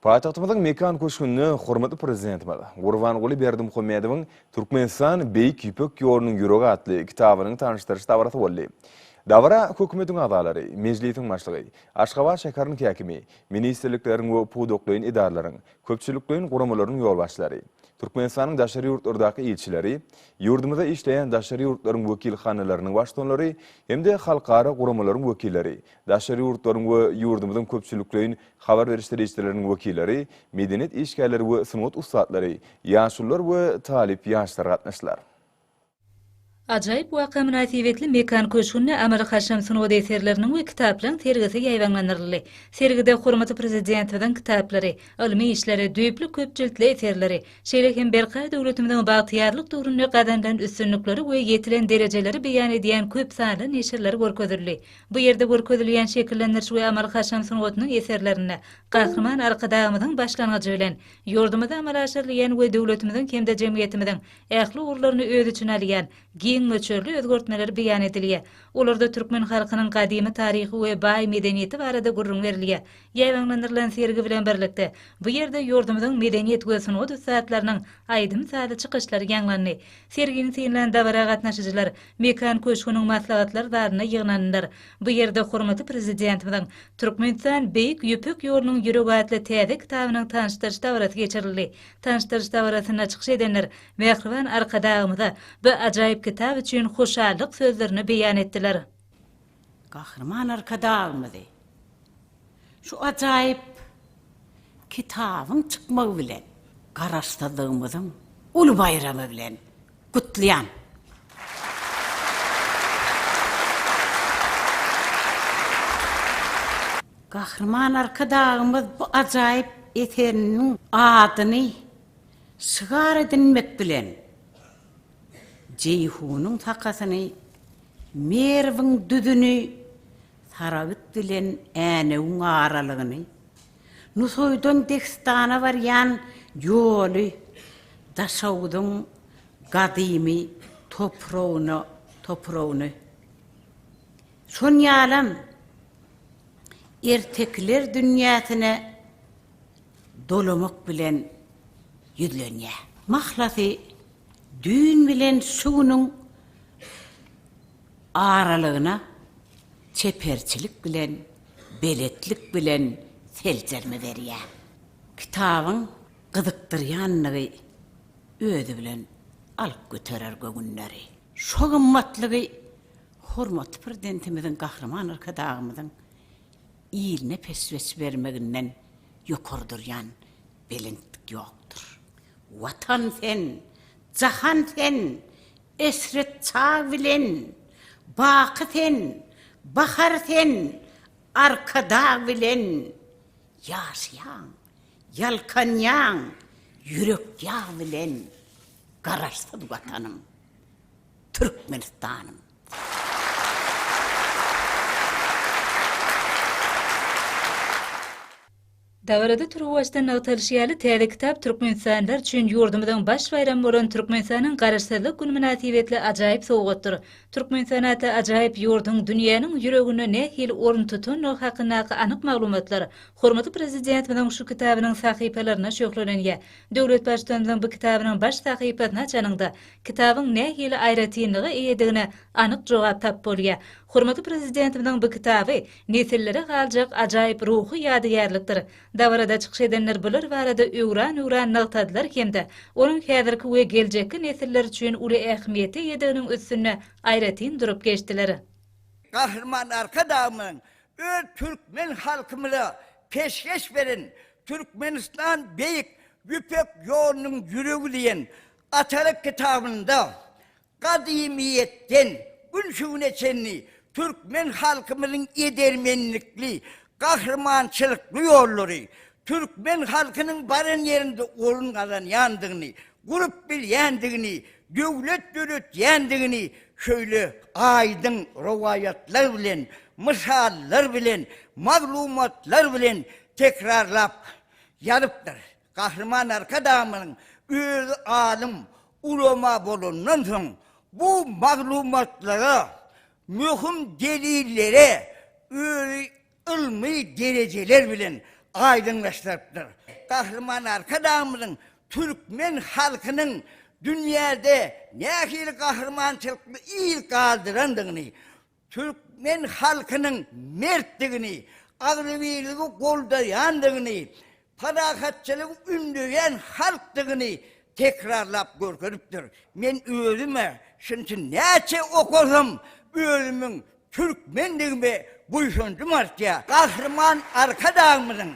Paýtagtymyzyň Mekan köşgünde hormatly Prezidentimiz Gurbanguly Berdimuhamedowyň Türkmenistan, Beýik Ýüpek ýolunyň ýüregi atly kitabynyň tanyşdyryş dabarasy boldy. Dabara Hökümetiň agzalary, Mejlisiň Başlygy, Aşgabat şäheriniň häkimi, ministrlikleriň we pudaklaýyn edaralaryň, köpçülikleýin guramalaryň ýolbaşçylary, Türkmenistanyň daşary ýurtlardaky ilçileri, ýurdumyzda işleýän daşary ýurtlaryň wekilhanalarynyň baştutanlary hem-de halkara guramalaryň wekilleri daşary ýurtlaryň we ýurdumyzyň köpçülikleýin habar beriş serişdeleriniň wekilleri, medeniýet işgärleri we sungat ussatlary, ýaşulular we talyp ýaşlar gatnaşdylar. Ajaýyp waka mynasybetli Mekan köşgünde amaly-haşam sungat eserleriniň we kitaplaryň sergisi ýaýbaňlandyryldy. Sergide hormatly Prezidentimiziň kitaplary, ylmy işleri, düýpli köp jiltli eserleri, şeýle hem berkarar döwletimiziň bagtyýarlyk döwründe gazanylan üstünlikleri we ýetilen derejeleri beýan edýän köp sanly neşirler görkezildi. Bu ýerde görkezilýän şekillendiriş we amaly-haşam sungatynyň eserlerinde Gahryman Arkadagymyzyň başlangyjy bilen, ýurdumyzda amala aşyrylýan we döwletimiziň hem-de jemgyýetimiziň ähli ugurlaryny öz içine alýan giň möçberli özgertmeler beýan edilýär. Olarda türkmen halkynyň gadymy taryhy we baý medeniýeti barada gürrüň berilýär. Ýaýbaňlandyrylan sergi bilen birlikde, bu ýerde ýurdumyzyň medeniýet we sungat ussatlarynyň aýdym-sazly çykyşlary ýaňlandy. Sergini synlan dabara gatnaşyjylar Mekan köşgüniň maslahatlar zalynda ýygnandylar. Bu ýerde hormatly Prezidentimiziň Türkmenistan, Beýik Ýüpek ýolunyň ýüregi atly täze kitabynyň tanyşdyryş dabarasy geçirildi. Tanyşdyryş dabarasynda çykyş edenler mähriban Arkadagymyza bu ajaýyp kitap üçin hoşallyk sözlerini beýan etdiler. Gahryman Arkadagymyzy şu ajaýyp kitabyň çykmagy bilen, Garaşsyzlygymyzyň uly baýramy bilen gutlaýan. Gahryman Arkadagymyz bu ajaýyp eseriniň adyny şygar edinmek bilen, Jeýhunyň sakasyny, Merwiň düzüni, Saragt bilen Änewiň aralygyny, Nusaýdan Dehistana barýan ýoly Daşoguzyň gadymy topragyna topragyny, şon ýalam ertekiler dünýäsine dolamak bilen ýüzlenýär. Mahlasy, düýn bilen şu günüň aralygyna çeperçilik bilen, beletlik bilen seljerme berýär. Kitabyň gyzykdyrýanlygy özi bilen alyp göterer göwünleri. Şo gymmatlygy hormatly Prezidentimiziň Gahryman Arkadagymyzyň iline peşgeş bermeginden ýokary durýan belentlik ýokdur. Watan sen, jahan sen, Eşret çag bilen baky sen, Bahar sen Arkadag bilen ýaşaýaň, ýalkanýaň ýürek ýag bilen Garaşsyz Watanym, Türkmenistanym. Dabarada turuwbaşdan nygtalyşy ýaly, täze kitap türkmenistanlylar üçin ýurdumyzyň baş baýramy bolan Türkmenistanyň Garaşsyzlyk güni mynasybetli ajaýyp sowgatdyr. Türkmenistan atly ajaýyp ýurduň dünýäniň ýüreginde nähili orun tutandygy hakyndaky anyk maglumatlar hormatly Prezidentimiziň şu kitabynyň sahypalarynda şöhlelenýär. Döwlet Baştutanymyzyň bu kitabynyň baş sahypasyny açanyňda, kitabyň nähili aýratynlyga eýedigine anyk jogap tap bolýar. Hormatly Prezidentimiziň bu kitaby, Nesillere galjak ajaýyp ruhy ýadygärlikdir. Dabarada çykyş edenler bular barada öwran-öwran nygtadylar hem-de onuň häzirki we geljekki nesiller üçin uly ähmiýete eýediginiň üstünde aýratyn durup geçdiler. Gahryman Arkadagymyzyň öz türkmen halkymyza peşgeş beren Türkmenistan Beýik Ýüpek ýolunyň ýüregi diýen Atalyk kitabynda Gadymyýetden gün şu güne çenli türkmen halkymyzyň edermenlikli, gahrymançylykly ýollary, türkmen halkynyň baran ýerinde orun gazanýandygyny, gurup bilýändigini, döwlet döretýändigini şöýle aýdyň rowaýatlar bilen, mysallar bilen, maglumatlar bilen tekrarlap ýazypdyr. Gahryman Arkadagymyzyň özi alym, ulama bolandan soň, bu maglumatlara, möhüm delillere özi ylmy derejeler bilen aýdyňlaşdyrypdyr. Gahryman Arkadagymyzyň türkmen halkynyň dünýäde nähili gahrymançylykly yz galdyrandygyny, türkmen halkynyň mertdigini, agzybirligi goldaýandygyny, parahatçylygy ündeýän halkdygyny tekrarlap görkezipdir. Men özüm-ä şunça näçe okasam, özümiň türkmendigime buýsanjym artýar. Gahryman Arkadagymyzyň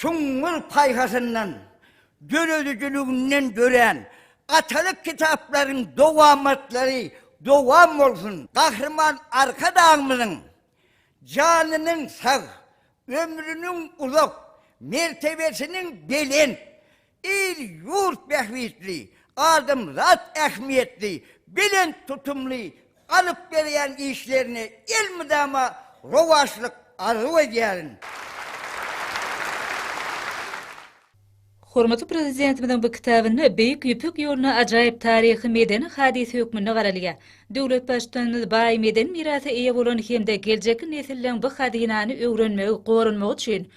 Süňňül paýhasyndan, döredijiliginden dörän atalyk kitaplaryň dowamatlary dowam bolsun! Gahryman Arkadagymyzyň janynyň sag, ömrüniň uzak, mertebesiniň belent, il-ýurt bähbitli, adamzat ähmiýetli, belent tutumly alyp berýän işlerine elmydama rowaçlyk arzuw edýärin. Hormatly Prezidentimiziň bu kitabynda Beýik Ýüpek ýoluna ajaýyp taryhy-medeni hadysa hökmünde garalýar. Döwlet Baştutanymyz baý medeni mirasa eýe bolan hem-de geljekki nesilleň bu hazynany öwrenmegi, goranmagy üçin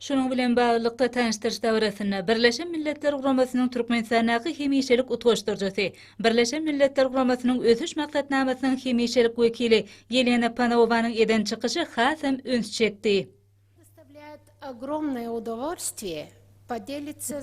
Şunuň bilen baglylykda, tanyşdyryş dabarasynda Birleşen Milletler Guramasynyň Türkmenistandaky hemişelik utgaşdyryjysy, Birleşen Milletler Guramasynyň Ösüş Maksatnamasynyň hemişelik wekili Ýelena Panowanyň eden çykyşy hasam üns çekdi.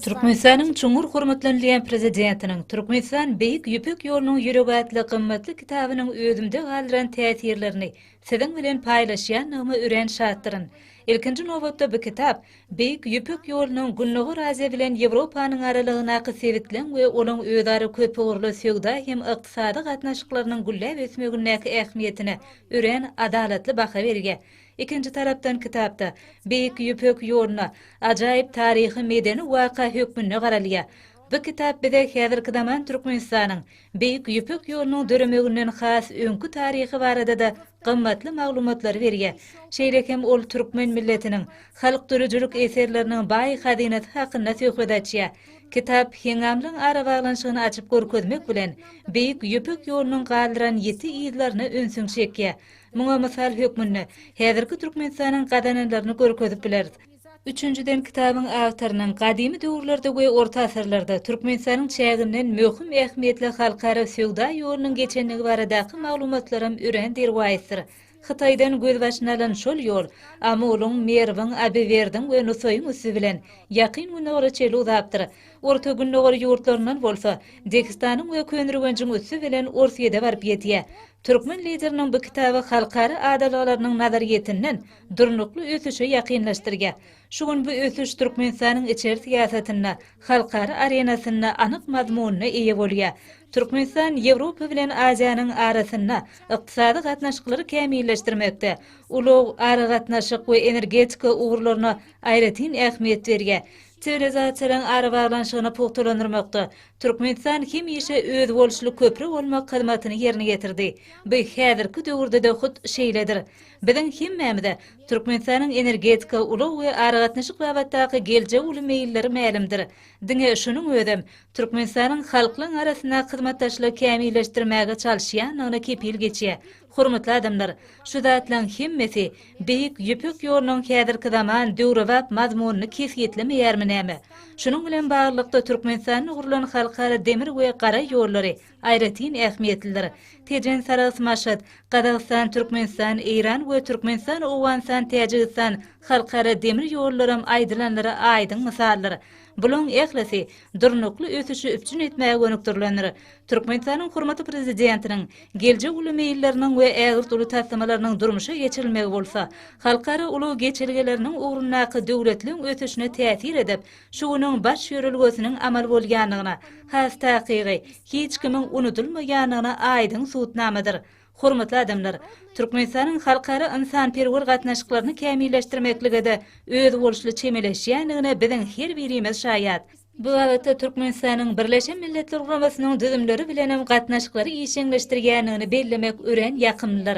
Türkmenistanyň çuňňur hormatlanylýan Prezidentiniň Türkmenistan, Beýik Ýüpek ýolunyň ýüregi atly gymmatly kitabynyň özümde galdyran täsirlerini Siziň bilen paýlaşýanlygyma örän şatdyryn. Ilkinji nobatda bu kitap Beýik Ýüpek ýolunyň Gündogar Aziýa bilen Ýewropanyň aralygyndaky sebitleň we olaň özara köpugurly söwda hem ykdysady gatnaşyklarynyň gülläp ösmegindäki ähmiýetine örän adalatly baha berýär. Ikinji tarapdan kitapda Beýik Ýüpek ýoluna ajaýyp taryhy-medeni waka hökmünde garalýar. Bu kitap bize häzirki zaman Türkmenistanyň Beýik Ýüpek ýolunyň döremeginden has öňki taryhy barada-da gymmatly maglumatlary berýär. Şeýle hem ol türkmen milletiniň halk döredijilik eserleriniň baý hazynasy hakynda söhbet açýar. Kitap heňňamlygyň arabaglanyşygyny açyp görkezmek bilen, Beýik Ýüpek ýolunyň galdyran ýiti yzlaryna ünsüňi çekýär. Muňa mysal hökmünde, häzirki Türkmenistanyň gazananlaryny görkezip bileris. Üçünjiden, kitabyň awtorynyň gadymy döwürlerde we orta asyrlarda Türkmenistanyň çäginden möhüm ähmiýetli halkara söwda ýolunyň geçendigi baradaky maglumatlaram örän derwaýysdyr. Hytaýdan gözbaşyny alan şol ýol Amulyň, Merwiň, Abiwerdiň we Nusaýyň üsti bilen Ýakyn Gündogara çenli uzapdyr. Orta Gündogar ýurtlaryndan bolsa Degistanyň we Köneürgenjiň üsti bilen Orsýete baryp ýetýär. Türkmen Lideriniň bu kitaby halkara adalgalarynyň nazaryýetinden Durnukly ösüşe ýakynlaşdyrýar. Şu gün bu ösüş Türkmenistanyň içeri syýasatynda, halkara arenasynda anyk mazmuna eýe bolýar. Türkmenistan Ýewropa bilen Aziýanyň arasynda ykdysady gatnaşyklary kämilleşdirmekde, ulag, aragatnaşyk we energetika ugurlaryna aýratyn ähmiýet berýär. Siwilizasiýalaryň arabaglanyşygyny pugtalandyrmakda Türkmenistan hemişe özboluşly köpri bolmak hyzmatyny ýerine ýetirdi. Bu häzirki döwürde-de hut şeýledir. Biziň hemmämize Türkmenistanyň energetika, ulag we aragatnaşyk babatdaky geljegi uly meýilleri mälimdir. Diňe şunuň özem Türkmenistanyň halklaň arasynda hyzmatdaşlygy kämilleşdirmäge çalyşýandygyna kepil geçýär. Hormatly adamlar, şu zatlaň hemmesi Beýik Ýüpek ýolunyň häzirki zaman döwrebap mazmunyny kesgitlemeýärmi näme? Şunuň bilen baglylykda Türkmenistanda gurlan halkara demir we gara ýollary, Aýratyn ähmiýetlidir. Tejen, Sarahs, Maşat, Gazagystan, Türkmenistan, Eýran we Türkmenistan, Owganystan, Täjigistan, halkara demir ýollaram aýdylanlara aýdyň mysaldyr. Bulaň ählisi durnukly ösüşi üpjün etmäge gönükdirilendir. Türkmenistanyň hormatly Prezidentiniň geljek uly meýilleriniň we ägirt uly taslamalarynyň durmuşa geçirilmegi bolsa, halkara ulag geçelgeleriniň ugrundaky döwletleň ösüşine täsir edip, Şu günüň baş ýörelgesiniň amal bolýandygyna, has takygy, hiç kimiň unudylmaýandygyna aýdyň subutnamadyr. Hormatly adamlar! Türkmenistanyň halkara ynsanperwer gatnaşyklaryny kämilleşdirmeklige-de özboluşly çemeleşýändigine biziň her birimiz şaýat. Bu babatda Türkmenistanyň Birleşen Milletler Guramasynyň düzümleri bilenem gatnaşyklary işjeňleşdirýändigini bellemek örän ýakymlydyr.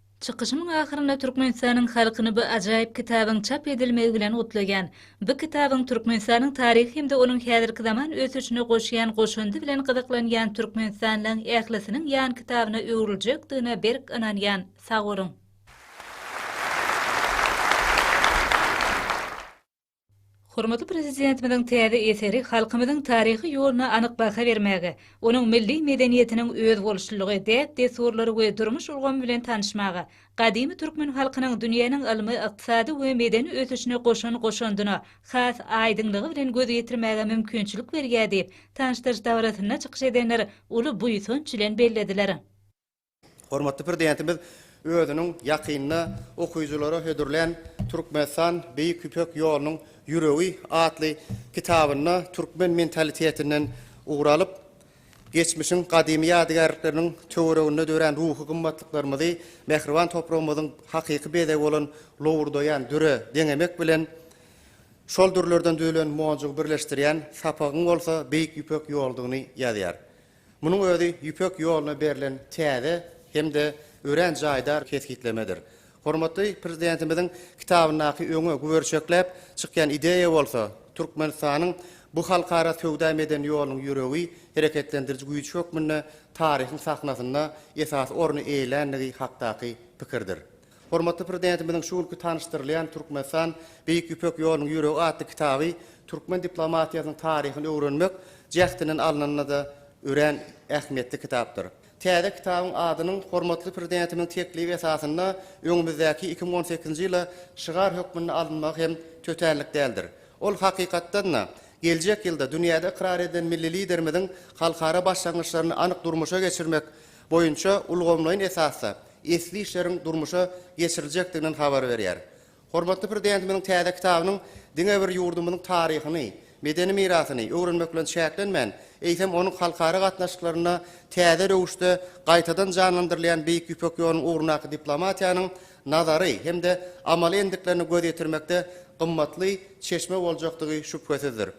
Çykyşymyň ahyrynda Türkmenistanyň halkyny bu ajaýyp kitabyň çap edilmegi bilen gutlaýan. Bu kitabyň Türkmenistanyň taryhy hem-de onuň häzirki zaman ösüşine goşýan goşandy bilen gyzyklanýan türkmenistanlyň ählisiniň ýankitabyna öwrüljekdigine berk ynanýan. Sag boluň! Hormatly Prezidentimiziň täze eseri halkymyzyň taryhy ýoluna anyk baha bermäge, onuň milli medeniýetiniň özboluşlylygy, däp-dessurlary we durmuş ulgamy bilen tanyşmaga, gadymy türkmen halkynyň dünýäniň ylmy, ykdysady we medeni ösüşine goşan goşandyna has aýdyňlygy bilen göz ýetirmäge mümkinçilik berýär diýip, tanyşdyryş dabarasynda çykyş edenler uly buýsanç bilen bellediler. Hormatly Prezidentimiz özüniň ýakynda okyjylara hödürlän Türkmenistan, Beýik Ýüpek ýolunyň ýüregi atly kitabynda türkmen mentalitetinden ugur alyp, geçmişiň gadymy ýadygärlikleriniň töwereginde dörän ruhy gymmatlyklarymyzy mähriban topragymyzyň hakyky bezegi bolan lowurdaýan düre deňemek bilen, şol dürlerden düzülen monjugy birleşdirýän sapagyň bolsa Beýik Ýüpek ýoludygyny ýazýar. Munuň özi Ýüpek ýoluna berlen täze hem-de örän jaýdar kesgitlemedir. Hormatly Prezidentimiziň kitabyndaky öňe güberçekläp çykýan ideýa bolsa, Türkmenistanyň bu halkara söwda-medeni ýolunyň ýüregi, hereketlendiriji güýji hökmünde taryhyň sahnasynda esasy orny eýeländigi hakdaky pikirdir. Hormatly Prezidentimiziň şu günki tanyşdyrylýan Türkmenistan, Beýik Ýüpek ýolunyň ýüregi atly kitaby türkmen diplomatiýasynyň taryhyny öwrenmek jähtinden alnanda-da örän ähmiýetli kitapdyr. Täze kitabyň adynyň hormatly Prezidentimiziň teklibi esasynda öňümizdäki iki müň on sekizinji ýyla şygar hökmünde alynmagy hem tötänlik däldir. Ol, hakykatdan-da, geljek ýylda dünýäde ykrar edilen milli Liderimiziň halkara başlangyçlaryny anyk durmuşa geçirmek boýunça ulgamlaýyn esasda esli işleriň durmuşa geçiriljekdiginden habar berýär. Hormatly Prezidentimiziň täze kitabynyň diňe bir ýurdumyzyň taryhyny, medeni mirasyny öwrenmek bilen çäklenmän, eýsem, onuň halkara gatnaşyklarynda täze röwüşde gaýtadan janlandyrylýan Beýik Ýüpek ýolunyň ugrundaky diplomatiýanyň nazary hem-de amaly endiklerine göz ýetirmekde gymmatly çeşme boljakdygy şübhesizdir.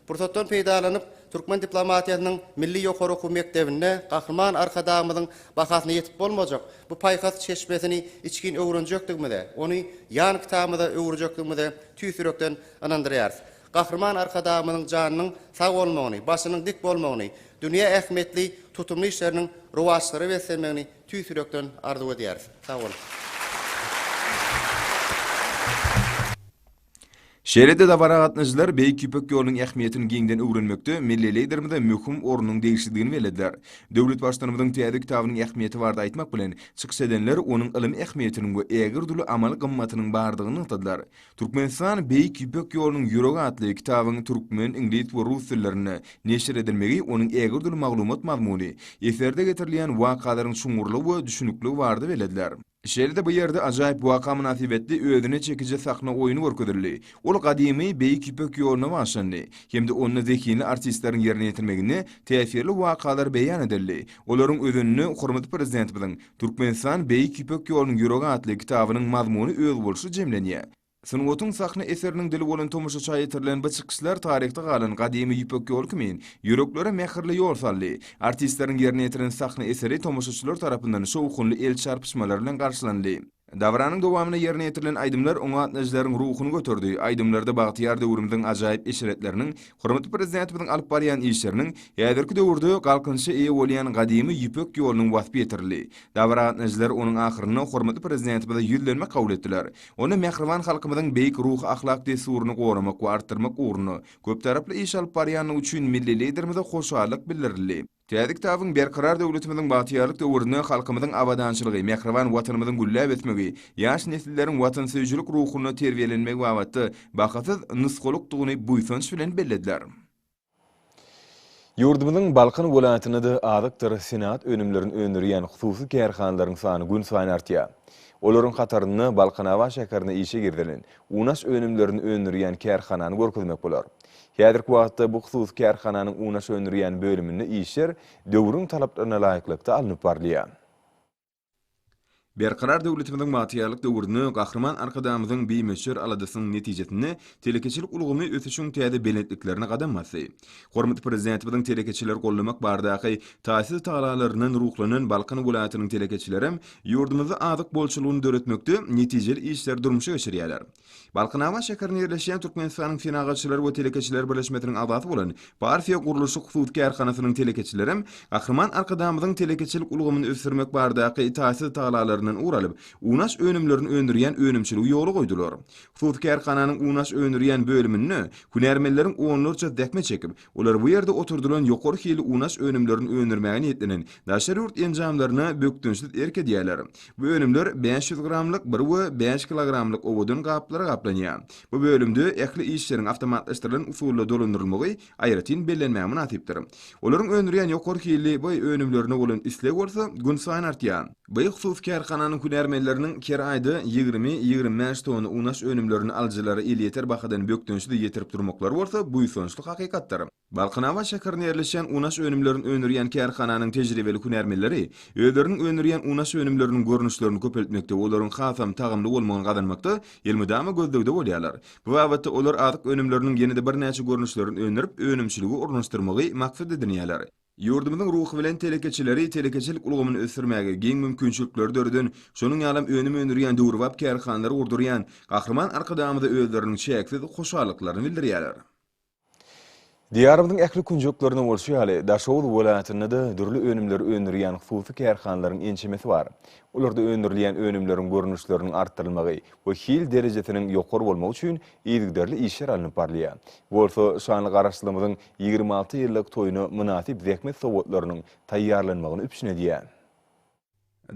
Pursatdan peýdalanyp, türkmen diplomatiýasynyň milli ýokary okuw mekdebinde Gahryman Arkadagymyzyň bahasyna ýetip bolmajak bu paýhas çeşmesini içgin öwrenjekdigimize, ony ýan kitabymyza öwürjekdigimize tüýs ýürekden ynandyrýarys. Gahryman Arkadagymyzyň janynyň sag bolmagyny, başynyň dik bolmagyny, dünýä ähmiýetli tutumly işleriniň rowaçlara beslenmegini tüýs ýürekden arzuw edýäris. Sag boluň! Şeýle-de dabara gatnaşyjylar Beýik Ýüpek ýolunyň ähmiýetini giňden öwrenmekde milli Liderimize möhüm ornuň degişlidigini bellediler. Döwlet Baştutanymyzyň täze kitabynyň ähmiýeti barada aýtmak bilen, çykyş edenler onuň ylmy ähmiýetiniň we ägirt uly amaly gymmatynyň bardygyny nygtadylar. Türkmenistan, Beýik Ýüpek ýolunyň ýüregi atly kitabyň türkmen, iňlis we rus dillerinde neşir edilmegi onuň ägirt uly maglumat mazmuny, eserde getirilýän wakalaryň çuňňurlygy we düşnükliligi barada bellediler. Şeýle-de bu ýerde ajaýyp waka mynasybetli özüne çekiji sahna oýny görkezildi. Ol gadymy Beýik Ýüpek ýoluna bagyşlandy hem-de onda zehinli artistleriň ýerine ýetirmeginde täsirli wakalar beýan edildi. Olaryň özeninde hormatly Prezidentimiziň Türkmenistan, Beýik Ýüpek ýolunyň ýüregi atly kitabynyň mazmuny özboluşly jemlenýär. Sungatyň sahna eseriniň dili bolan tomaşaça ýetirilen bu çykyşlar taryhda galan gadymy Ýüpek ýoly kimin ýüreklere mähirli ýol saldy. Artistleriň ýerine ýetiren sahna eseri tomaşaçylar tarapyndan şowhunly el çarpyşmalar bilen garşylandy. Dabaranyň dowamynda ýerine ýetirilen aýdymlar oňa gatnaşyjylaryň ruhuny göterdi. Aýdymlarda bagtyýar döwrümiziň ajaýyp eşretleriniň, hormatly Prezidentimiziň alyp barýan işleriniň, häzirki döwürde galkynyşa eýe bolýan gadymy Ýüpek ýolunyň waspy ýetirildi. Dabara gatnaşyjylar onuň ahyrynda hormatly Prezidentimize ýüzlenme kabul etdiler. Onda mähriban halkymyzyň beýik ruhy-ahlak dessuryny goramak we artdyrmak ugrunda köptaraply iş alyp barýandygy üçin milli Liderimize hoşallyk bildirildi. Täze kitabyň Berkarar döwletimiziň bagtyýarlyk döwründe halkymyzyň abadançylygy, mähriban Watanymyzyň gülläp ösmegi, ýaş nesilleriň watansöýüjilik ruhunda terbiýelenmegi babatda bahasyz nusgalykdygyny buýsanç bilen bellediler. Ýurdumyzyň Balkan welaýatynda-da azykdyr senagat önümlerini öndürýän hususy kärhanalaryň sany günsaýyn artýar. Olaryň hatarynda Balkanabat şäherinde işe girizilen unaş önümlerini öndürýän kärhanany görkezmek bolar. Häzirki wagtda bu hususy kärhananyň unaş öndürýän bölüminde işler döwrüň talaplaryna laýyklykda alnyp barylýar. Berkarar döwletimiziň bagtyýarlyk döwründe Gahryman Arkadagymyzyň bimöçber aladasynyň netijesinde telekeçilik ulgamy ösüşiň täze belentliklerine gadam basdy. Hormatly Prezidentimiziň telekeçileri goldamak baradaky taýsyz tagalalaryndan ruhlanan Balkan welaýatynyň telekeçilerem ýurdumyzda azyk bolçulygyny döretmekde netijeli işleri durmuşa geçirýärler. Balkanabat şäherinde ýerleşýän Türkmenistanyň Senagatçylar we telekeçiler birleşmesiniň agzasy bolan Parfiýa gurluşyk hususy kärhanasynyň telekeçilerem Gahryman Arkadagymyzyň telekeçilik ulgamyny ösdürmek baradaky taýsyz tagalalaryndan ugur alyp, unaş önümlerini öndürýän önümçiligi ýola goýdular. Hususy kärhananyň unaş öndürýän bölüminde hünärmenleriň onlarça zähmet çekip, Olar bu ýerde oturdylan ýokary hili unaş önümlerini öndürmäge niýetlenen daşary ýurt enjamlaryna bökdençsiz erk edýärler. Bu önümler bäş ýüz gramlyk bir we bäş kilogramlyk owadan gaplara gaplanýar. Bu bölümde ähli işleriň awtomatlaşdyrylan usulda dolandyrylmagy aýratyn bellenmäge mynasypdyr. Olaryň öndürýän ýokary hilli baý önümlerine bolan isleg bolsa günsaýyn artýar. Beýik hususy kärhananyň hünärmenleriniň her aýda ýigrimi, ýigrimi bäş tonna unaş önümlerini alyjylara elýeter bahadan bökdençsiz ýetirip durmaklary bolsa buýsançly hakykatdyr. Balkanabat şäherinde ýerleşýän unaş önümlerini öndürýän kärhananyň tejribeli hünärmenleri özleriniň öndürýän unaş önümleriniň görnüşlerini köpeltmekde we olaryň hasam tagamly bolmagyny gazanmakda elmydama gözlegde bolýarlar. Bu babatda olar azyk önümleriniň ýene-de birnäçe görnüşlerini öndürip, önümçiligi ornaşdyrmagy maksat edinýärler. Ýurdumyzyň ruhy bilen telekeçileri telekeçilik ulgamyny ösdürmäge giň mümkinçilikleri döreden, şonuň ýalam önüm öndürýän döwrebap kärhanalary gurdurýan Gahryman Arkadagymyza özleriniň çäksiz hoşallyklaryny bildirýärler. Diýarymyzyň ähli künjeklerinde bolşy ýaly, Daşoguz welaýatynda-da dürli önümleri öndürýän hususy kärhanalaryň ençemesi bar. Olarda öndürilýän önümleriň görnüşleriniň artdyrylmagy we hil derejesiniň ýokary bolmagy üçin yzygiderli işler alnyp barylýar. Bu bolsa şanly Garaşsyzlygymyzyň Ýigrimi alty ýyllyk toýuna mynasyp zähmet sowgatlarynyň taýýarlanmagyny üpjün edýär.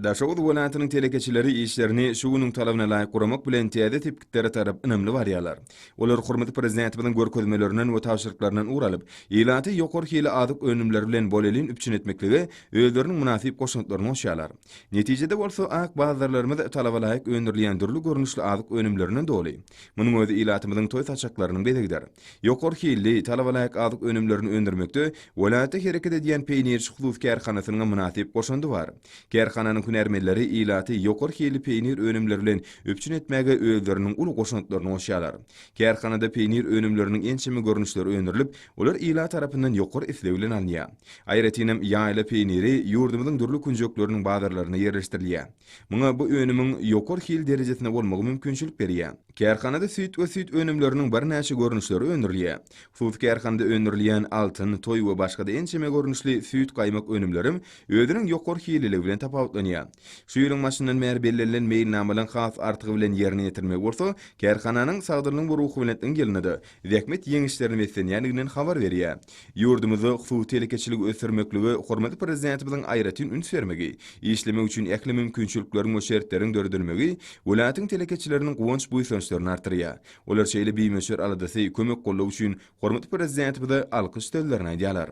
Daşoguz welaýatynyň telekeçileri işlerini şu günüň talabyna laýyk guramak bilen täze sepgitlere tarap ynamly barýarlar. Olar hormatly Prezidentimiziň görkezmelerinden we tabşyryklaryndan ugur alyp, ilaty ýokary hili azyk önümleri bilen bolelin üpjün etmeklige özleriniň mynasyp goşantlaryny goşýarlar. Netijede bolsa, ak bazarlarymyz talaba laýyk öndürilýän dürli görnüşli azyk önümlerinden doly. Munuň özi ilatymyzyň toý saçaklarynyň bezegidir. Ýokary hilli, talabalaýyk azyk önümlerini öndürmekde welaýatda hereket edýän Peýnirçi hususy kärhanasynyň mynasyp goşandy bar. Kärhananyň hünärmenleri ilaty ýokary hilli peýnir önümleri bilen üpjün etmäge özleriniň uly goşantlaryny goşýarlar. Kärhanada peýnir önümleriniň ençeme görnüşleri öndürilip, olar ilat tarapyndan ýokary isleg bilen alynýar. Aýratynam, ýaýla peýniri ýurdumyzyň dürli künjekleriniň bazarlarynda ýerleşdirilýär. Muňa bu önümiň ýokary hil derejesinde bolmagy mümkinçilik berýär. Kärhanada süýt we süýt önümleriniň birnäçe görnüşleri öndürilýär. Hususy kärhanada öndürilýän Altyn, Toý we başga-da ençeme görnüşli süýt-gaýmak önümlerim özüniň ýokary hililigi bilen tapawutlanýar. Şu ýylyň başyndan bäri bellenilen meýilnamalaryň has artygy bilen ýerine ýetirilmegi bolsa kärhananyň sagdynlygyň we ruhubelentligiň ýylynda-da zähmet ýeňişlerini beslenýändiginden habar berýär. Ýurdumyzda suw telekeçiligi ösdürmeklige hormatly Prezidentimiziň aýratyn üns bermegi, işlemek üçin ähli mümkinçilikleriň we şertleriň döredilmegi welaýatyň telekeçileriniň guwanç-buýsançlaryny artdyrýar. Olar şeýle bimöçber aladasy, kömek-goldaw üçin hormatly Prezidentimize alkyş sözlerini aýdýarlar.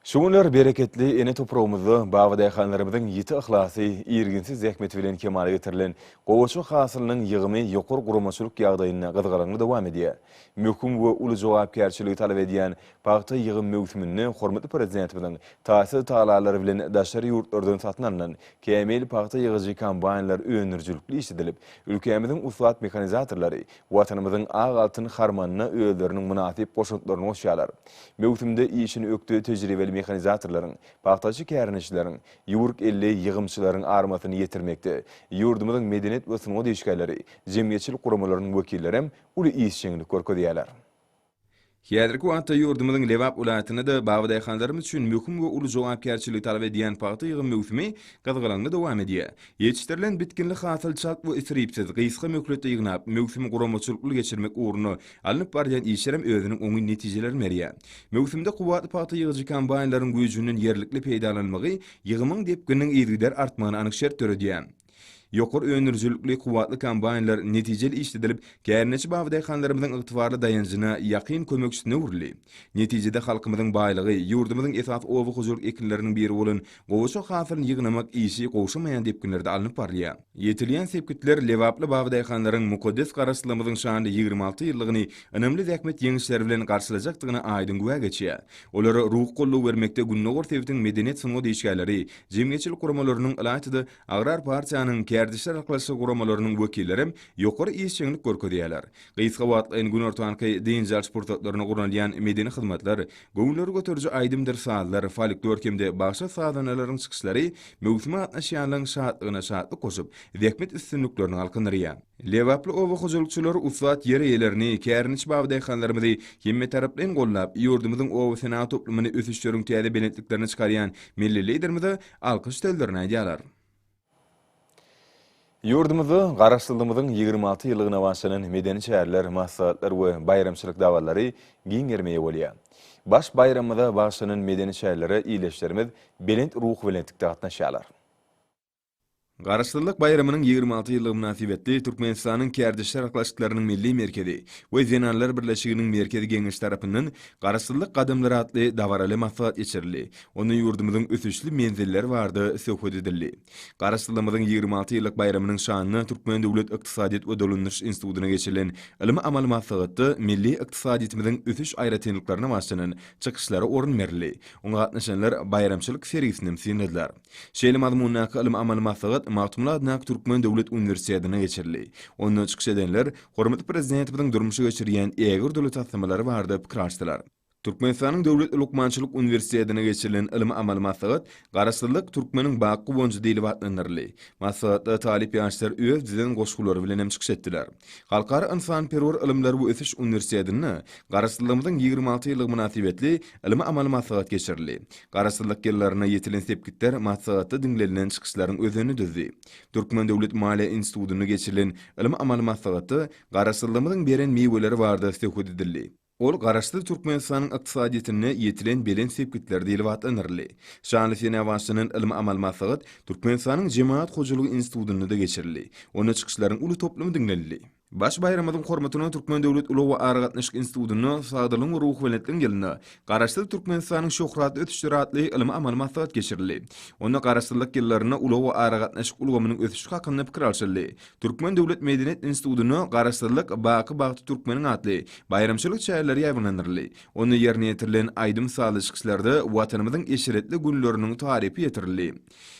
Şu günler bereketli ene topragymyzda baba-daýhanlarymyzyň ýiti yhlasy, irginsiz zähmeti bilen kemala getirilen gowaça hasylynyň ýygymy ýokary guramaçylyk ýagdaýynda gyzgalaňly dowam edýär. Möhüm we uly jogapkärçiligi talap edýän pagta ýygym möwsüminde hormatly Prezidentimiziň taýsyz tagallalary bilen daşary ýurtlardan satyn alnan kämil pagta ýygyjy kombaýnlar öndürijilikli işledilip, ülkämiziň ussat mehanizatorlary Watanymyzyň ak altyn harmanyna özleriniň mynasyp goşantlaryny goşýarlar. Möwsümde işini ökde tejribeli mehanizatorlaryň, pagtaçy kärendeçileriň, ýüwrük elli ýygymçylaryň armasyny ýetirmekde ýurdumyzyň medeniýet we sungat işgärleri, jemgyýetçilik guramalarynyň wekillerem uly işjeňlik görkezýärler. Häzirki wagtda ýurdumyzyň Lebap welaýatynda-da babadaýhanlarymyz üçin möhüm we uly jogapkärçiligi talap edýän pagta ýygym möwsümi gyzgalaňly dowam edýär. Ýetişdirilen bitginli hasyl çalt we isripsiz, gysga möhletde ýygnap, möwsümi guramaçylykly geçirmek ugrunda alnyp barylýan işlerem özüniň oňyn netijelerini berýär. Möwsümde kuwwatly pagta ýygyjy kombaýnlaryň güýjünden ýerlikli peýdalanylmagy ýygymyň depgininiň yzygider artmagyna anyk şert döredýär. Ýokary öndürijilikli kuwwatly kombaýnlar netijeli işledilip, kärendeçi baba daýhanlarymyzyň ygtybarly daýanjyna, ýakyn kömekçisine öwrüldi. Netijede halkymyzyň baýlygy, ýurdumyzyň esasy oba hojalyk ekinleriniň biri bolan gowaça hasylyny ýygnamak işi gowşamaýan depginlerde alnyp barylýar. Ýetilýän sepgitler lebaply baba daýhanlaryň mukaddes Garaşsyzlygymyzyň şanly ýigrimi alty ýyllygyny ynamly zähmet ýeňişleri bilen garşylajakdygyna aýdyň güwä geçýär. Olara ruhy goldaw bermekde gündogar sebitiň medeniýet-sungat işgärleri, Jemgyýetçilik guramalarynyň, ylaýta-da, Agrar partiýanyň kärdeşler arkalaşygy guramalarynyň wekillerem ýokary işjeňlik görkezýärler. Gysga wagtlaýyn günortanky dynç alyş pursatlaryna gurnalýan medeni hyzmatlar, göwünleri göteriji aýdymdyr sazlar, folklor hem-de bagşy sazanalaryň çykyşlary möwsüme gatnaşýanlaryň şatlygyna şatlyk goşup, zähmet üstünliklerini galkyndyrýar. Lebaply oba hojalykçylary ussat ýer eýelerini, kärendeçi babadeýhanlarymyzy hemmetaraplaýyn gollap, ýurdumyzyň oba-senagat toplumyny ösüşleriň täze belentliklerine çykarýan Milli Liderimize alkyş sözlerini aýdýarlar. Ýurdumyzda Garaşsyzlygymyzyň ýigrimi alty ýyllygyna başlanan medeni çäreler, maslahatlar we baýramçylyk dabaralary giň gerime eýe bolýar. Baş baýramymyza bagyşlanan medeni çärelere ildeşlerimiz belent ruhubelentlikde gatnaşýarlar. Garaşsyzlyk baýramynyň ýigrimi alty ýyllygy mynasybetli Türkmenistanyň Kärdeş çarklaşyklarynyň milli merkezi we Zenanlar birleşiginiň Merkezi Geňeşi tarapyndan Garaşsyzlyk gadamlary atly dabaraly maslahat geçirildi, onda ýurdumyzyň ösüşli menzilleri barada söhbet edildi. Garaşsyzlygymyzyň ýigrimi alty ýyllyk baýramynyň şanyna Türkmen döwlet ykdysadyýet we dolandyryş institutyna geçirilen ylmy-amaly maslahatda milli ykdysadyýetimiziň ösüş aýratynlyklaryna baslanan çykyşlara orun berildi, oňa gatnaşanlar baýramçylyk sergisinem synladylar. Şeýle mazmundaky ylym-amaly maslahat Magtymguly adyndaky Türkmen döwlet uniwersitetinde geçirildi. Onda çykyş edenler hormatly Prezidentimiziň durmuşa geçirýän ägirt uly taslamalary barada pikir alşdylar. Türkmenistanyň Döwlet lukmançylyk uniwersitetinde geçirilen ylym-amaly maslahat Garaşsyzlyk türkmeniň bak guwanjy diýlip atlandyryldy. Maslahatda talyp ýaşlar öz düzen goşgulary bilen hem çykyş etdiler. Halkara ynsanperwer ylymlar we ösüş uniwersitetinde Garaşsyzlygymyzyň ýigrimi alty ýyllygy mynasybetli Ylmy-amaly maslahat geçirildi. Garaşsyzlyk ýyllaryna ýetilen sepgitler maslahatda diňlenilen çykyşlaryň özenini düzdi. Türkmen döwlet maliýe institutynda geçirilen ylmy-amaly maslahatda Garaşsyzlygymyzyň beren miweleri barada söhbet edildi. Ol Garaşsyz Türkmenistanyň ykdysadyýetinde ýetilen belent sepgitler diýlip atlandyryldy. Şanly senä başlanan ylmy-amaly maslahat Türkmenistanyň Jemagat hojalygy institutynda-da geçirildi. Onda çykyşlaryň uly toplumy diňlenildi. Baş baýramymyzyň hormatyna Türkmen döwlet ulag-aragatnaşyk institutynda Sagdynlygyň we ruhubelentligiň ýylynda Garaşsyz Türkmenistanyň şöhratly ösüşleri atly ylmy-amaly maslahat geçirildi. Onda Garaşsyzlyk ýyllarynda ulag-aragatnaşyk ulgamynyň ösüşi hakynda pikir alşyldy. Türkmen döwlet medeniýet institutynda Garaşsyzlyk, baky bagty türkmeniň atly baýramçylyk çäreleri ýaýbaňlandyryldy. Onda ýerine ýetirilen aýdym-sazly çykyşlarda Watanymyzyň eşretli günleriniň tarypy ýetirildi.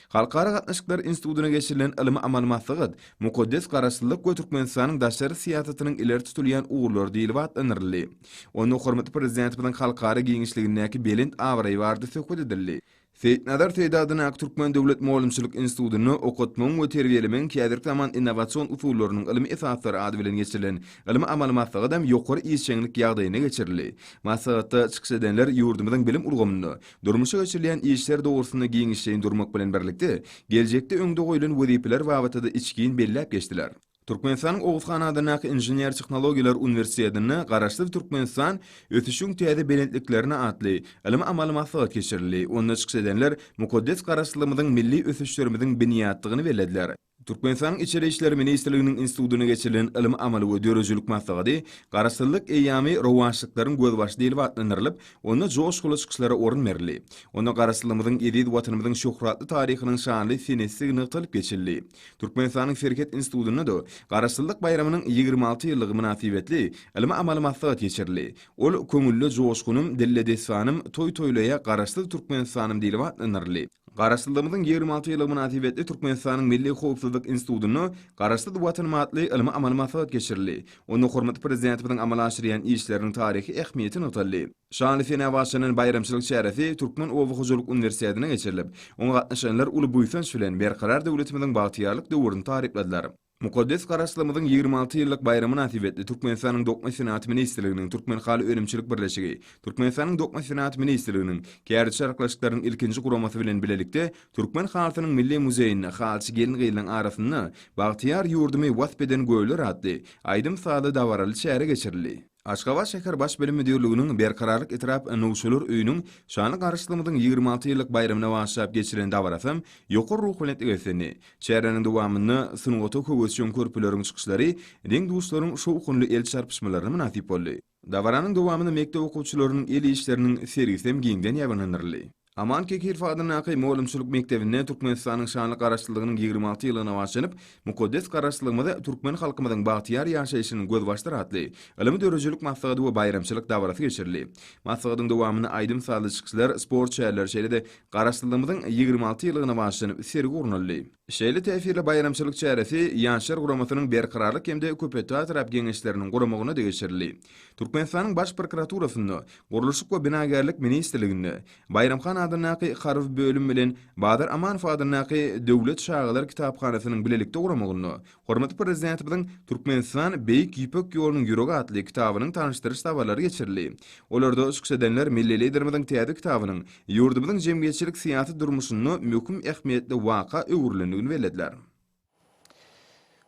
Halkara gatnaşyklary institutyna geçirilen ylmy-amaly maslahat Mukaddes Garaşsyzlyk we Türkmenistanyň daşary syýasatynyň ileri tutulýan ugurlary diýlip atlandyryldy. Onda hormatly Prezidentimiziň halkara giňişligindäki belent abraýy barada söhbet edildi. Seýitnazar Seýdi adyndaky Türkmen döwlet mugallymçylyk institutynda Okatmagyň we terbiýelemegiň häzirki zaman innowasion usullarynyň ylmy esaslary ady bilen geçirilen ylmy-amaly maslahat hem ýokary işjeňlik ýagdaýynda geçirildi. Maslahatda çykyş edenler ýurdumyzyň bilim ulgamynda Durmuşa geçirilýän işler dogrusynda giňişleýin durmak bilen birlikde, geljekde öňde goýlan wezipeler babatda-da içgin belläp geçdiler. Türkmenistanyň Oguz han adyndaky Inžener-tehnologiýalar uniwersitetinde Garaşsyz Türkmenistan, ösüşiň täze belentliklerine atly ylmy-amaly maslahat geçirildi, onda çykyş edenler mukaddes Garaşsyzlygymyzyň milli ösüşlerimiziň binýatdygyny bellediler. Türkmenistanyň Içeri işler ministrliginiň institutyna geçirilen ylmy-amaly we döredijilik maslahady Garaşsyzlyk eýýamy rowaçlyklaryň gözbaşy diýlip atlandyrylyp, onda joşguly çykyşlara orun berildi. Onda Garaşsyzlygymyzyň, eziz Watanymyzyň şöhratly taryhynyň şanly senesdigi nygtalyp geçildi. Türkmenistanyň Serhet institutynda-da Garaşsyzlyk baýramynyň ýigrimi alty ýyllygy mynasybetli ylmy-amaly maslahat geçirildi. Ol Köňülde joşgunym, dilde dessanym, Toý toýlaýa Garaşsyz Türkmenistanym diýlip atlandyryldy. Garaşsyzlygymyzyň ýigrimi alty ýyllygy mynasybetli Türkmenistanyň Milli howpsuzlyk institutynda Garaşsyz Watanym atly ylmy-amaly maslahat geçirildi. Onda hormatly Prezidentimiziň amala aşyrýan işleriniň taryhy ähmiýeti nygtaldy. Şanly senä başlanan baýramçylyk çäresi Türkmen oba hojalyk uniwersitetinde geçirilip, oňa gatnaşanlar uly buýsanç bilen Berkarar döwletimiziň bagtyýarlyk döwrüni tarypladylar. Mukaddes Garaşlygymyzyň ýigrimi alty ýyllyk baýramy mynasybetli Türkmenistanyň Dokma senat ministrliginiň Türkmenhaly önümçilik birleşigi, Türkmenistanyň Dokma senat ministrliginiň Kärde çaryklaşyklarynyň ilkinji guramasy bilen bilelikde Türkmen halysynyň milli muzeýinde Halyçy gelin-gyzlaryň arasynda Bagtyýar ýurdumy wasp eden göwler atly aýdym-sazly dabaraly çäre geçirildi. Aşgabat şäher Baş bilim müdirliginiň Berkararlyk etrap Nowçalar öýüniň şanly Garaşsyzlygymyzyň ýigrimi alty ýyllyk baýramyna bagyşlap geçiren dabarasy ýokary ruhubelentlik beslendi. Çäräniň dowamynda sungata höwesjeň körpeleriň çykyşlary deň-duşlaryň şowhunly el çarpyşmalaryna mynasyp boldy. Dabaranyň dowamynda mekdep okuwçylarynyň el işleriniň sergisi hem giňden ýaýbaňlandyryldy. Aman Kekirf adyndaky mugallymçylyk mekdebinde Türkmenistanyň şanly Garaşsyzlygynyň ýigrimi alty ýyllygyna baglanyp, Mukaddes Garaşsyzlygymyz, türkmen halkymyzyň bagtyýar ýaşaýşynyň gözbaşdyr atly ylmy-döredijilik maslahaty we baýramçylyk dabarasy geçirildi. Maslahatyň dowamynda aýdym-sazly çykyşlar, sport çäreleri, şeýle-de Garaşsyzlygymyzyň ýigrimi alty ýyllygyna bagyşlanyp sergi gurnaldy. Şeýle täsirli baýramçylyk çäresi Ýaşlar guramasynyň Berkararlyk hem-de Köpetdagtarap geňeşleriniň guramagyna geçirildi. Türkmenistanyň Baş prokuraturasynda, Gurluşyk we binagärlik ministrliginde, Baýram han adyndaky Harby bölüm bilen Bazar Amanow adyndaky Döwlet çagalar kitaphanasynyň bilelikde guramagynda Hormatly Prezidentimiziň Türkmenistan, Beýik Ýüpek ýolunyň ýüregi atly kitabynyň tanyşdyryş dabaralary geçirildi. Olarda çykyş edenler milli Liderimiziň täze kitabynyň ýurdumyzyň jemgyýetçilik-syýasy durmuşynda möhüm ähmiýetli waka öwrülendigini bellediler.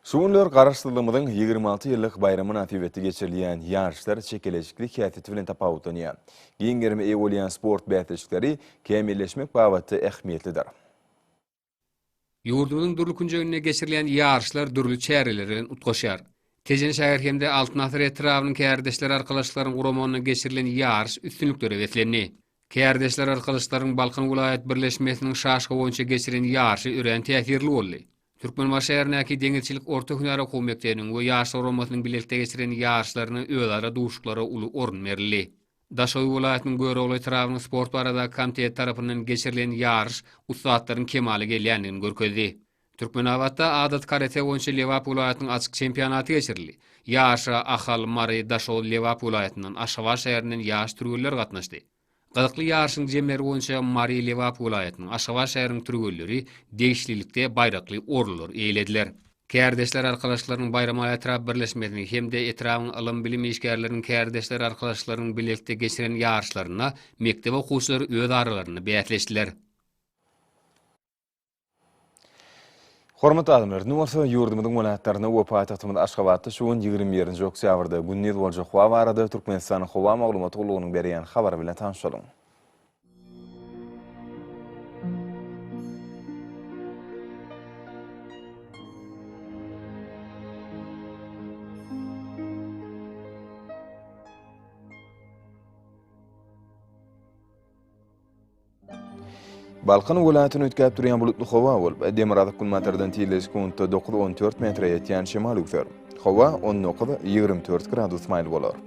Şu günler Garaşsyzlygymyzyň ýigrimi alty ýyllyk baýramy mynasybetli geçirilýän ýaryşlar çekeleşikli häsiýeti bilen tapawutlanýar. Giň gerime eýe bolýan sport bäsleşikleri kämilleşmek babatda ähmiýetlidir. Ýurdumyzyň dürli künjeginde geçirilýän ýaryşlar dürli çäreler bilen utgaşýar. Tejen şäher hem-de Altyn asyr etrabynyň Kärdeşler arkalaşyklaryň guramagynda geçirilen ýaryş üstünliklere beslendi. Kärdeşler arkalaşyklaryň Balkan welaýat birleşmesiniň şaşka boýunça geçiren ýaryşy örän täsirli boldy. Türkmenbaşy şäherindäki Deňizçilik orta hünär okuw mekdebiniň we Ýaşlar guramasynyň bilelikde geçiren ýaryşlaryna özara duşuklara uly orun berildi. Daşoguý welaýatynyň Görogly etrabynyň sport baradaky komiteti tarapyndan geçirilen ýaryş ussatlaryň kemala gelýändigini görkezdi. Türkmenabatda adaty karate boýunça Lebap welaýatynyň açyk çempionaty geçirildi. Ýaryşa Ahal, Mary, Daşoguz, Lebap welaýatyndan, Aşgabat şäherinden ýaş türgenler gatnaşdy. Gyzykly ýaryşyň jemleri boýunça Mary, Lebap welaýatynyň, Aşgabat şäheriniň türgenleri degişlilikde baýrakly orunlary eýelediler. Kärdeşler arkalaşyklarynyň Baýramaly etrap birleşmesiniň hem-de etrabyň ylym-bilim işgärleriniň kärdeşler arkalaşyklarynyň bilelikde geçiren ýaryşlarynda mekdep okuwçylary öz aralarynda bäsleşdiler. Hormatly adamlar, indi bolsa ýurdumyzyň welaýatlarynda we paýtagtymyz Aşgabatda şu gün ýigrimi birinji oktýabrda gündiz boljak howa barada Türkmenistanyň howa maglumat gullugynyň berýän habary bilen tanyşalyň. Balkan welaýatyny üýtgäp durýan bulutly howa bolup, demirgazyk günbatardan tizligi sekuntda dokuz on dört metre ýetýän şemal üwser. Howa on dokuz, ýigrimi dört gradus maýyl bolar.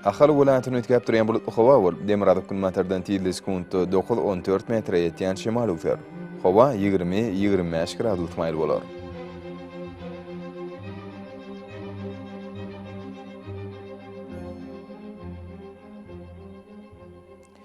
Ahal welaýatyny üýtgäp durýan bulutly howa bolup, demirgazyk günbatardan tizligi sekuntda dokuz, on dört metre ýetýän şemal öwser. Howa ýigrimi, ýigrimi bäş gradus maýyl bolar.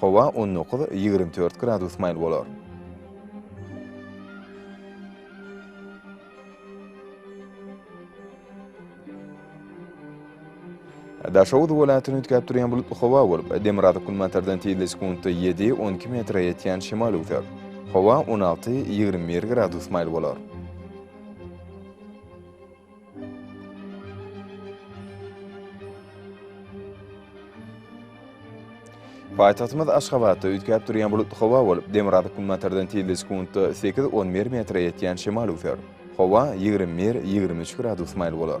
Howa on dokuz, ýigrimi dört gradus maýyl bolar. Daşoguz welaýatyny üýtgäp durýan bulutly howa bolup, demirgazyk-günbatardan tizli sekuntda ýedi, on iki metre ýetýän şemal öwser. Howa on alty, ýigrimi bir gradus maýyl bolar. Paýtagtymyz Aşgabatda üýtgäp durýan bulutly howa bolup, demirgazyk günbatardan tizligi sekuntda sekiz-on bir metre ýetýän şemal üwser. Howa ýigrimi bir-ýigrimi üç gradus maýyl bolar.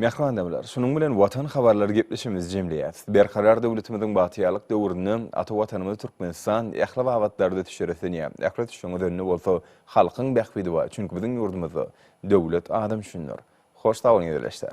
Mähmanymyzlar, şunuň bilen Watan habarlary gepleşigimizi jemleýäris. Berkarar döwletimiziň bagtyýarlyk döwründe ata Watanymyz Türkmenistan ähli babatlarda düşer ösenýär. Ähli düşeň özende bolsa halkyň bähbidi bar, çünki biziň ýurdumyzda döwlet adam üçindir. Hoş sag boluň ildeşler.